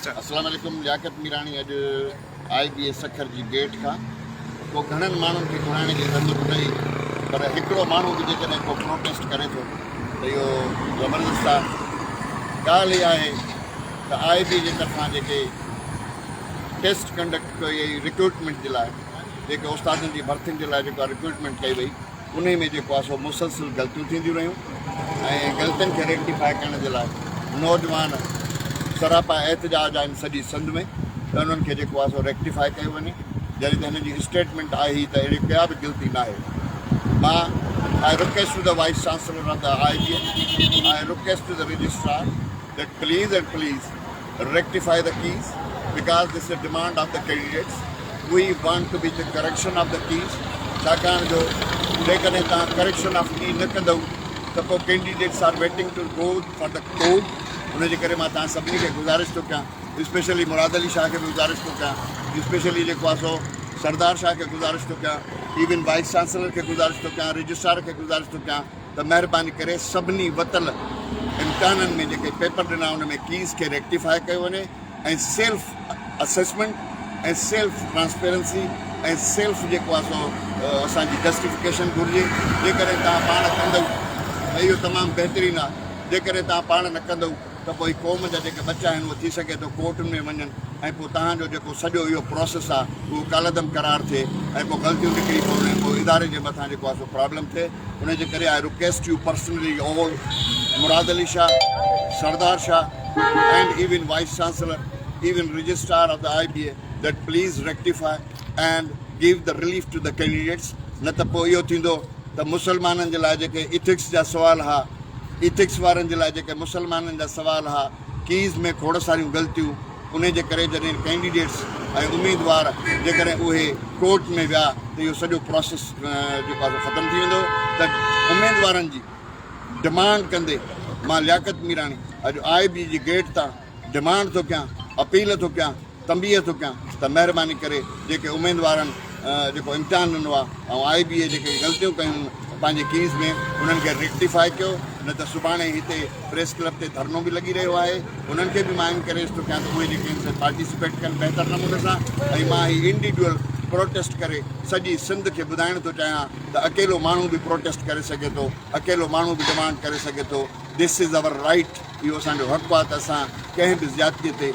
السلام عليڪم لياقت ميراڻي اڄ آء بي اي سکر جي گيٽ کان ڪو گهڻن ماڻهن کي گهرائڻ جي ضرورت نه هئي پر هڪڙو ماڻهو به جيڪڏهن ڪو پروٽيسٽ ڪري ٿو ته اهو زبردست آهي ڳالهه هي آهي ته آء بي جي طرفان جيڪي ٽيسٽ ڪنڊڪٽ ڪئي وئي رڪروٽمينٽ جي لاء جيڪي استادن جي ڀرتين جي لاء جيڪا رڪروٽمينٽ ڪئي وئي انهي ۾ جيڪو آهي سو مسلسل غلطيون ٿينديون رهيون ۽ غلطين کي ريڪٽيفائي ڪرڻ جي لاء نوجوان سراپا احتجاج آهن سڄي سنڌ ۾ ته انهن کي جيڪو آهي سو ريڪٽيفائي ڪيو وڃي جڏهن ته هنن جي اسٽيٽمينٽ آهي ئي ته اهڙي ڪا به غلطي ناهي مان آء رڪويسٽ ٽو ته وائيس چانسلر آف ته آء جي آء رڪويسٽ ٽو ته رجسٽرار ته please and please Rectify the keys because this is a demand of the candidates. We want to be the correction of the keys ڇاڪاڻ جو جيڪڏهن توهان correction of key نه ڪندؤ ته پوء candidates are waiting to go for the court ان جي ڪري مان توهان سڀني کي گذارش ٿو ڪيان اسپيشلي مراد علي شاهه کي به گذارش ٿو ڪيان اسپيشلي جيڪو آ سو سردار شاهه کي گذارش ٿو ڪيان ايون وائس چانسلر کي گذارش ٿو ڪيان رجسٽرار کي گذارش ٿو ڪيان ته مهرباني ڪري سڀني وتل امتحانن ۾ جيڪي پيپر ڏنا ان ۾ ڪيز کي ريڪٽيفاء ڪيو وڃي ۽ self assessment ۽ self transparency ۽ self جيڪو آهي سو اسان جي جسٽيفڪيشن گهرجي جيڪڏهن توهان پاڻ ڪندئو ته اهو تمام بهترين آهي جيڪڏهن توهان پاڻ نه ڪندئو ته پوء قوم جا جيڪي ٻچا آهن اهو ٿي سگهي ٿو ڪورٽن ۾ وڃن ۽ پوء توهان جو جيڪو سڄو اهو پراسيس آهي اهو ڪالعدم قرار ٿئي ۽ پوء غلطيون نڪري پون ۽ پوء اداري جي مٿان جيڪو آهي سو پرابلم ٿئي انهي جي ڪري I request you personally all Murad Ali Shah Sardar Shah and even vice chancellor even registrar of the I B A date please rectify and give the relief to the candidates نه ته پوء اهو ٿيندو ته مسلمانن جي لاء جيڪي ايٿڪس جا سوال ها ايٿڪس وارن جي لاء جيڪي مسلمانن جا سوال ها ڪيز ۾ کوڙ ساريون غلطيون انهي جي ڪري جڏهن ڪينڊيڊيٽس ۽ اميدوار جيڪڏهن اهي ڪورٽ ۾ ويا ته اهو سڄو پروسيس جيڪو آهي ختم ٿي ويندو ته اميدوارن جي ڊمانڊ ڪندي مان لياقت ميراڻي اڄ آء بي جي گيٽ تان ڊمانڊ ٿو ڪيان، اپيل ٿو ڪيان، تنبيهه ٿو ڪيان ته مهرباني ڪري جيڪي اميدوارن جيڪو امتحان ڏنو آهي ۽ آء بي اي جيڪي غلطيون ڪيون پنهنجي ڪيز ۾ انهن کي ريڪٽيفاء ڪيو نه ته سڀاڻي هتي پريس ڪلب تي ڌرڻو به لڳي رهيو آهي انهن کي به مان انڪريج ٿو ڪيان ته اهي جيڪي ان سان پارٽيسپيٽ ڪن بهتر نموني سان ۽ مان هي انڊيڊيول پروٽيسٽ ڪري سڄي سنڌ کي ٻڌائڻ ٿو چاهيان ته اڪيلو ماڻهو به پروٽيسٽ ڪري سگهي ٿو اڪيلو ماڻهو به ڊمانڊ ڪري سگهي ٿو دس از آور رائيٽ. اهو اسان جو حق آهي ته اسان ڪنهن به زيادتيء تي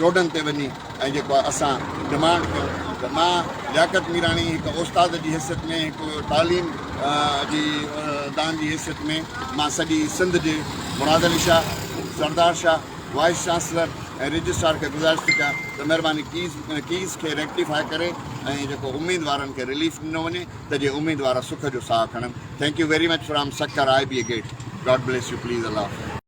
روڊن تي وڃي ۽ جيڪو آهي اسان ڊمانڊ ڪيون ته مان لياقت ميراڻي هڪ استاد جي حيثيت ۾ هڪ تعليم جي دان جي حيثيت ۾ مان سڄي سنڌ جي Murad Ali Shah, Sardar Shah, vice chancellor ۽ registrar کي گذارش ٿو ڪيان ته مهرباني ڪيز ڪيز کي ريڪٽيفاء ڪري ۽ جيڪو اميدوارن کي رليف ڏنو وڃي ته جي اميدوار سک جو ساهه کڻن thank you very much from Sukkur I B A gate God bless you please الله حافظ.